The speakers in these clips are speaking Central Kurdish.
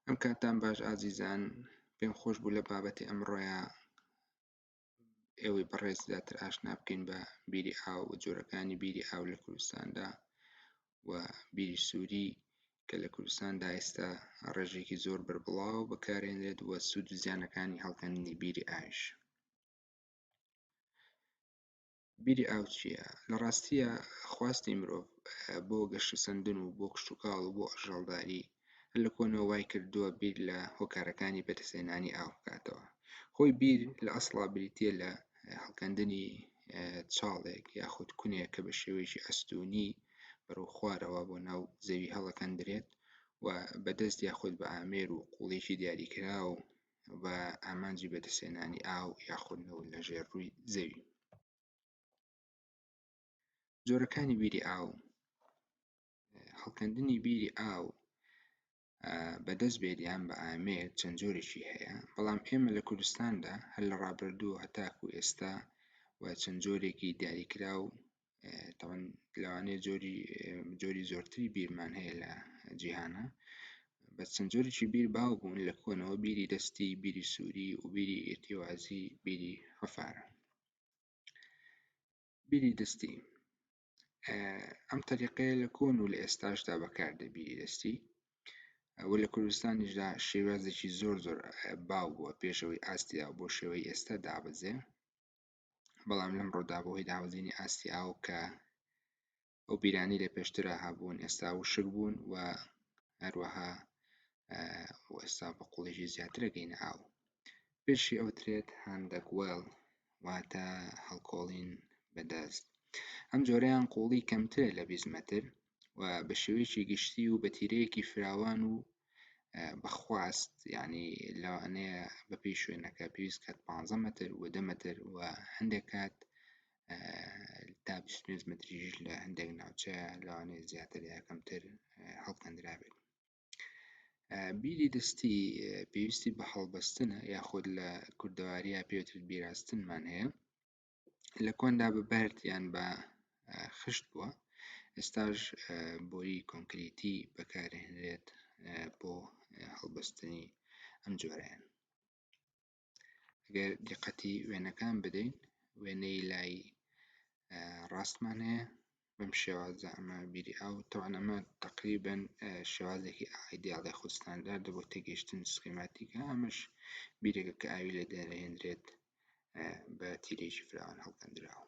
ئەم کاتان باش ئازیزان پێم خۆش بوو لە بابەتی ئەمڕۆیە ئێوەی بەڕێز زیاتر ئاشنا بکەین بە بیری ئاو و جۆرەکانی بیری ئاو لە کوردستاندا و بیری سووری کە لە کوردستاندا ئێستا ڕێژێکی زۆر بەربڵاو بەکارێنرێت وە سوود و زیانەکانی هەڵکەندنی بیری ئاش بیری ئاو چییە؟ لە ڕاستییا خواستی مرۆڤ بۆ گەشەسەندن و بۆ کشتوکاڵ و بۆ ئەژەڵداری هەر لە کۆنەوە وای کردووە بیر لە هۆکارەکانی بەدەستهێنانی ئاو بکاتەوە. خۆی بیر لە ئەسڵا بریتییە لە هەڵکەندنی چاڵێک یاخود کونێک کە بە شێوەیەکی ئەستوونی بەرەو خوارەوە بۆ ناو زەوی هەڵەکەندرێت و بە دەست یاخود بە ئامێر و قووڵیی دیاریکراو بە ئامانجی بەدەستێنانی ئاو یاخود نەوت لە ژێر ڕووی زەوی جۆرەکانی بیری ئاو هەڵکەندنی بیری ئاو بەدەست بێت یان بە ئامێک چەند جۆرێکی هەیە بەڵام ئێمە لە کوردستاندا هەر لە ڕابردوو هەتاکو ئێستا و چەند جۆرێکی دیاریکرا و تەوەن لەوانەیە جۆری جۆری زۆرتری بیرمان هەیە لە جیهانە بە چەند جۆرێکی بیر باو بوون لە کۆنەوە بیری دەستی بیری سووری و بیری ئێتیوازی بیری حەفارە بیری دەستی ئەم تەریقەیە لە کۆن و لە ئێستاشدا بەکاردە بیری دەستی ئەوە لە کوردستانیشدا شێوازێکی زۆر زۆر باو بووە پێشەوەی ئاستیا بۆ شێوەی ئێستا دابەزێ بەڵام لەمڕۆدا بەهۆی دابەزینی ئاستی ئاو کە ئەو بیرانی لە پێشترا هەبوون ئێستا وشک بوون و هەروەها ئێستا بە قوڵێژی زیاترە گەینە ئاو پێشی ئەو ترێت هەندەک وێڵ واتە هەڵکۆڵین بەدەست ئەم جۆرەیان قوڵی کەمترە لە بیست مەتر و بە شێوەیەکی گشتی و بە تیرەیەکی فراوان و بەخواست یعنی لەوانەیە بە پێی شوێنەکە پێویست کات پ مەتر و دە مەتر و هەندێک کات تا پێنج متریش لە هەندێک ناوچە لەوانەیە زیاتر یاکەمتر هەڵکەندرابێت بیری دەستی پێویستی بە هەڵبەستنە یاخود لە کوردەواریە پێوتر بیراستنمان هەیە لە کۆندا بە بەرد یان بە خشت بووە ئێستاش بۆری کۆنکریتی بەکارهێنرێت بۆ هەڵبەستنی ئەم جۆرەیان گەر دیقەتی وێنەکان بدەین وێنەی لای ڕاستمان هەیە بەم شێوازە ئەمە بیری ئاو تەوان ئەمە تقریبن شێوازێکی ئایدیاڵی خود ستانداردە بۆ تێگەیشتن سکیماتیکە ئەمەش بیرێکە کە ئاوی لێ دەرهێنرێت بە تیرێکی فراوان هەڵکەندراوە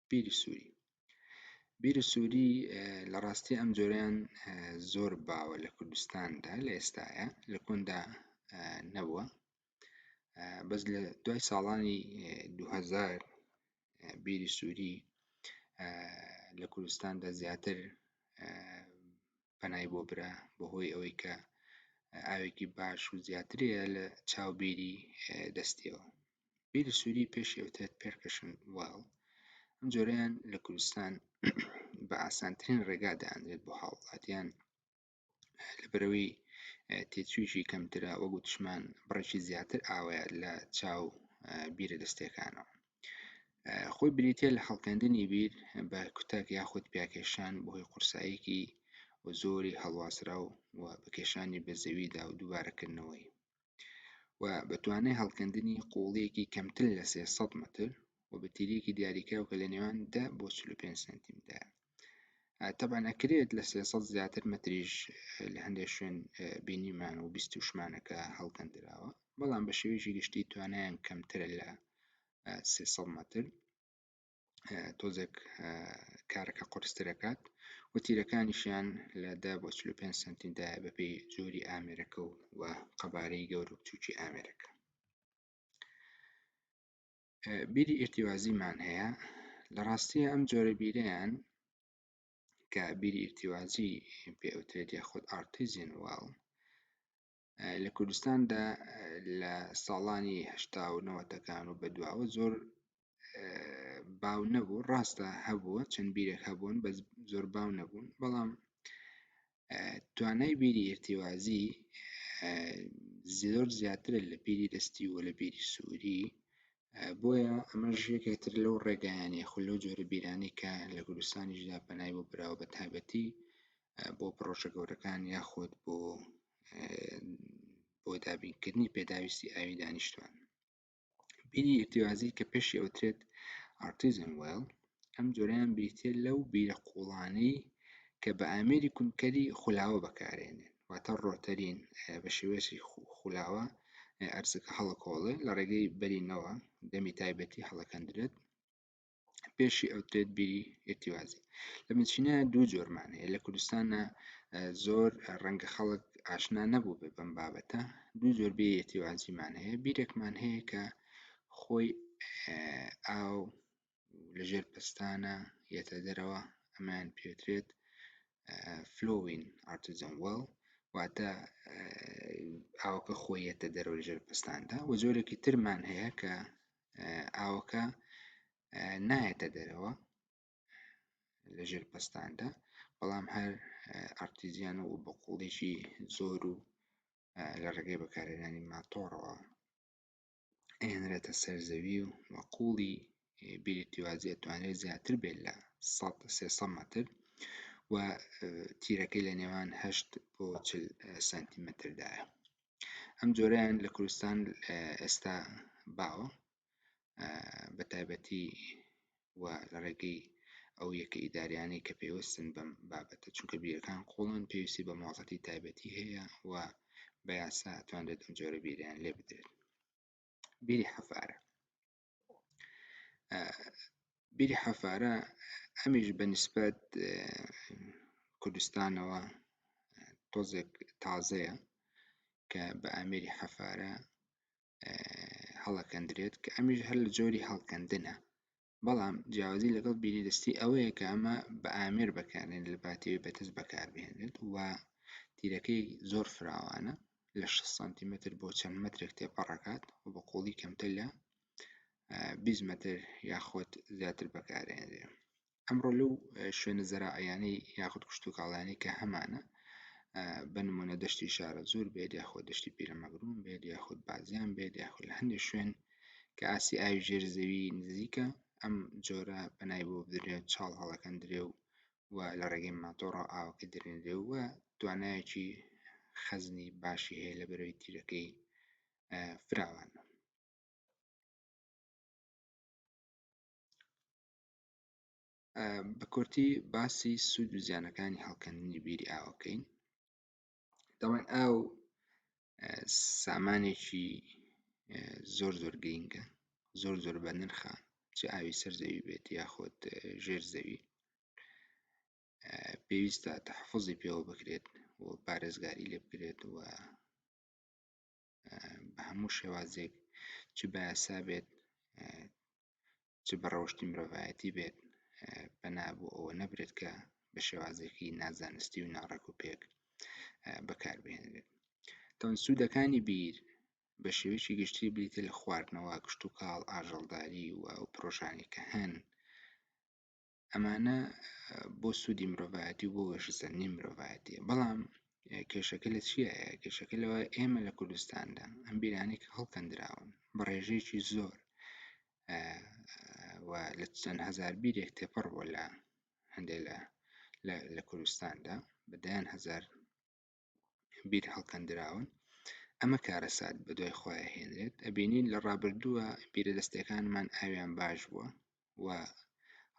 بیری سووری بیر سووری لە ڕاستی ئەم جۆریان زۆر باوە لە کوردستاندا لە ئێستاە لە کۆندا نەبووە بەس لە دوای ساڵانی 2000 بیری سووری لە کوردستاندا زیاتر پەنای بۆ برا بەهۆی ئەوەی کە ئاوێکی باش و زیاترەیە لە چاو بیری دەستیەوە بیری سووری پێش ئەوتێت پێرکەشن واڵ ئەم جۆرەیان لە کوردستان بە ئاسانترین ڕێگا دەیانرێت بۆ هاوڵاتیان لەبەرەوەی تێچوویی کەمترە وە گوتشمان بڕێکی زیاتر ئاوەیە لە چاو بیرە دەستێکانەوە خۆی بریتە لە هەڵکەندنی بیر بە کوتەک یاخود پیاکێشان بەهۆی قورساییکی و زۆری هەڵواسرا و بەکێشانی بە زەویدا و دووبارەکردنەوەی و بە توانای هەڵکەندنی قوڵیەکی کەمتر لە 300 متر و بە تیرێکی دیاریکراو کە لە نێوان 10 بۆ 45 سنتیمدا تەبان ئەکرێت لە 300 زیاتر متریش لە هەندێک شوێن بینیمان و بیست و شمانەکە هەڵکەندراوە بەڵام بە شێوێکی گشتی توانیان کەمترە لە 300 متر تۆزێک کارەکە قرسترەکات و تیرەکانیشیان لە دا بۆ 5 سنتیدا بەپی جۆری ئامێرەکە و و قەبارەی گەور و بچووکی ئامێرەکە بیری ئرتیوازیمان هەیە لە ڕاستیە ئەم جۆرە بیرەیان کە بیری ئرتیوازی پێوترێت یاخود ئارتیزین واڵ لە کوردستاندا لە ساڵانی هەشتا و نەوەتەکان و بەدواوە زۆر باو نەبوو ڕاستە هەبووە چەند بیرێک هەبوون بە زۆر باو نەبوون بەڵام توانای بیری ئرتیوازی زۆر زیاترە لە بیری دەستی و لە بیری سووری بۆیە ئەمە ژێکێتر لەو ڕێگایانی خو لەو جۆرە بیرانی کە لە کوردستانیشدا پەنای بۆ براوە بە تایبەتی بۆ پرۆژە گەورەکان یاخود بۆ بۆ دابینکردنی پێداویستی ئاوی دانیشتوان بیری ئرتیوازی کە پێشی ئەوترێت ئارتیزم وێڵ ئەم جۆریان بریتە لەو بیرە قوڵانەی کە بە ئامێری کونکەری خولاوە بەکارێنێن واتە ڕۆتەرین بە شێوێسی خولاوە ئەرزەکە هەڵکۆڵێ لە ڕێگەی بەرینەوە دەمی تایبەتی هەڵەکەندرێت پێشی ئەوترێت بیری ئێتیوازی لە بنچینە دوو جۆرمان هەیە لە کوردستانە زۆر ڕەنگە خەڵک ئاشنا نەبوو بێ بەم بابەتە دوو زۆر بێ ئێتیوازیمان هەیە بیرێکمان هەیە کە خۆی ئاو لەژێر پستانە یەتە دەرەوە ئەمان پێترێت فلۆین ئارتزم وڵ واتە ئاوکە خۆیەتە دەرەوە ژێر پستاندا و زۆرێکی ترمان هەیە کە ئاوەکە نایەتە دەرەوە لە ژێر پەستاندا بەڵام هەر ئارتیزیان و بەقوڵێکی زۆر و لە ڕێگەی بەکارێنانی ماتۆڕەوە ئەێنرێتە سەر زەوی و وەقوڵی بیرتیوازی توانێت زیاتر بێت لە 300 متر و تیرەکەی لە نێوان 8 بۆ سانتیمەتردایە ئەم جۆرەیان لە کوردستان ئێستا باوە بە تایبەتی و لە ڕێگەی ئەو یەکە ئیداریانەی کە پێوەستن بەم بابەتە چونکە بیرەکان قوڵن پێویستی بە مۆڵەتی تایبەتی هەیە و بە یاسا توانرێت ئەم جۆرە بیریان لێ بدرێت بیری حەفارە بیری حەفارە ئەمیش بە نسبەت کوردستانەوە تۆزێک تازەیە کە بە ئامێری حەفارە هەڵەکەندرێت کە ئەمیش هەر لە جۆری هەڵکەندنە بەڵام جیاوازی لەگەڵ بیری دەستی ئەوەیە کە ئەمە بە ئامێر بەکارێن لە باتێوی بەتەس بەکاربهێنێت و تیرەکەی زۆر فراوانە لە شەست سانتیمەتر بۆ چەند مەترێک تێپەڕەکات و بە قوڵی کەمتر لە بیست مەتر یاخود زیاتر بەکارێنرێ ئەمڕۆ لەو شوێنە زەرائەیانەی یاخود کشتتوکاڵیانی کە هەمانە بە نمونە دەشتی شارە زۆر بێت یاخود دەشتی پیرەمەگرون بێت یاخود بازیان بێت یاخود لە هەندێک شوێن کە ئاسی ئاوی ژێر زەوی نزیکە ئەم جۆرە بەنای بۆ بدرێت چاڵ هەڵەکەندرێ و و لە ڕێگەی ماتۆڕە ئاوەکە دەرێنرێ و توانایەکی خەزنی باشی هەیە لە بەرەوی تیرەکەی فراوان بە کورتی باسی سوود و زیانەکانی هەڵکەندنی بیری ئاوەکەین دەڵێن ئاو سامانێکی زۆر زۆر گرینگە زۆر زۆر بە نرخە چ ئاوی سەر زەوی بێت یاخود ژێر زەوی پێویستە تەحفزی پێوە بکرێت و پارێزگاری لێ بکرێت و بە هەموو شێوازێک چ بە یاسا بێت چ بە ڕەوشتی مرۆڤایەتی بێت پەنا بۆ ئەوە نەبرێت کە بە شێوازێکی نازانستی و ناڕێک و پێک بەکاربهێنرێت تەون سوودەکانی بیر بە شێوەیەکی گشتی بریتە لە خواردنەوە کشت و کاڵ ئاژەڵداری و ئەو پرۆژانی کە هەن ئەمانە بۆ سوودی مرۆڤایەتی و بۆ وەشسەندنی مرۆڤایەتیە بەڵام کێشەکە لە چیە کێشەکە لەوە ئێمە لە کوردستاندا ئەم بیرانێک هەڵکەندراون بە ڕێژەیەکی زۆر لە چەند هزار بیرێک تێپەڕ بۆ لە هەندێک لە لە کوردستاندا بەدەیان هزار بیر هەڵکەندراون ئەمە کارەسات بە دوای خۆیان هێنرێت ئەبینین لە ڕابردووە بیرە دەستەکانمان ئاویان باش بووە و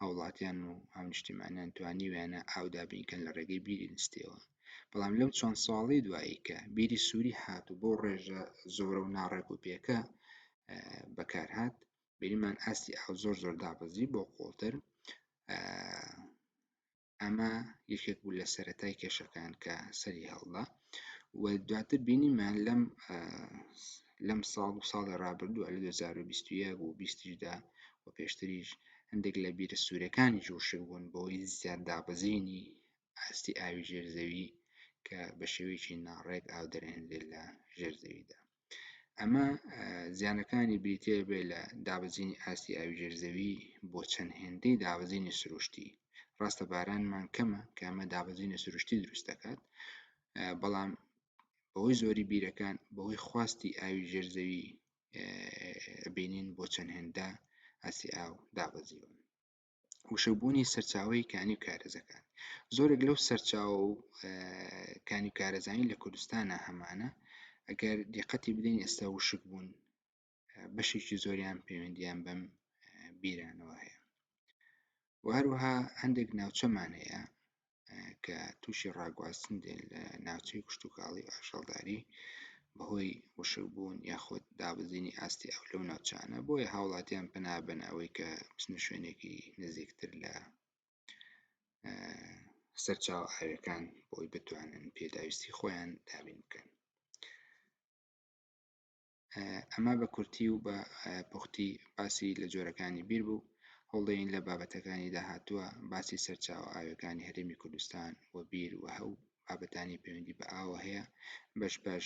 هاوڵاتیان و هاونیشتیمانیان توانیویانە ئاو دابینکەن لە ڕێگەی بیری نستیەوە بەڵام لەم چەند ساڵی دوایی کە بیری سووری هات و بۆ ڕێژە زۆرە و ناڕێک و پێکە بەکارهات بینیمان ئاستی ئاو زۆر زۆر دابەزی بۆ قوڵتر ئەمە یەکێک بوو لە سەرەتای کێشەکان کە سەری هەڵدا و دواتر بینیمان لەم لەم ساڵ و ساڵی ڕابردووە لە 2021 و 20دا و پێشتریش هەندێک لە بیرە سوورەکانی جوشک بوون بۆی زیاد دابەزینی ئاستی ئاوی ژێرزەوی کە بە شێوەیەکی ناڕێک ئاو دەرێنێت لە ژێرزەویدا ئەمە زیانەکانی بریتێ بێ لە دابەزینی ئاستی ئاوی ژێرزەوی بۆ چەند هێندەی دابەزینی سروشتی ڕاستە بارانمان کەمە کە ئەمە دابەزینە سروشتی دروست دەکات بەڵام بەوەی زۆری بیرەکان بەوەی خواستی ئاوی ژێرزەوی بینین بۆ چەند هێندە ئاسی ئاو دابەزیون وشەبوونی سەرچاوەی کانی و کارەزەکان زۆرێک لەو سەرچاو و کانی و کارەزانی لە کوردستانە هەمانە ئەگەر دیقەتی بدەین ئێستا وشک بوون بەشێکی زۆریان پەیوەندیان بەم بیرانەوە هەیە وهروها هەندێک ناوچەمان هەیە کە تووشی ڕاگواستن دێن لە ناوچەی کشتوکاڵی ئاژەڵداری بەهۆی وشکبوون یاخود دابەزینی ئاستی ئەو لەو ناوچانە بۆیە هاوڵاتیان پەنابەن ئەوەی کە بچنە شوێنێکی نزیکتر لە سەرچاوە ئاوێکان بۆی بتوانن پێداویستی خۆیان دابین بکەن ئەمە بە کورتی و بە پوختی باسی لە جۆرەکانی بیر بوو هەوڵدەین لە بابەتەکانی داهاتووە باسی سەرچاوە ئاویەکانی هەرێمی کوردستان و بیر وهەوو بابەتانی پەیوەندی بە ئاوە هەیە بەش بەش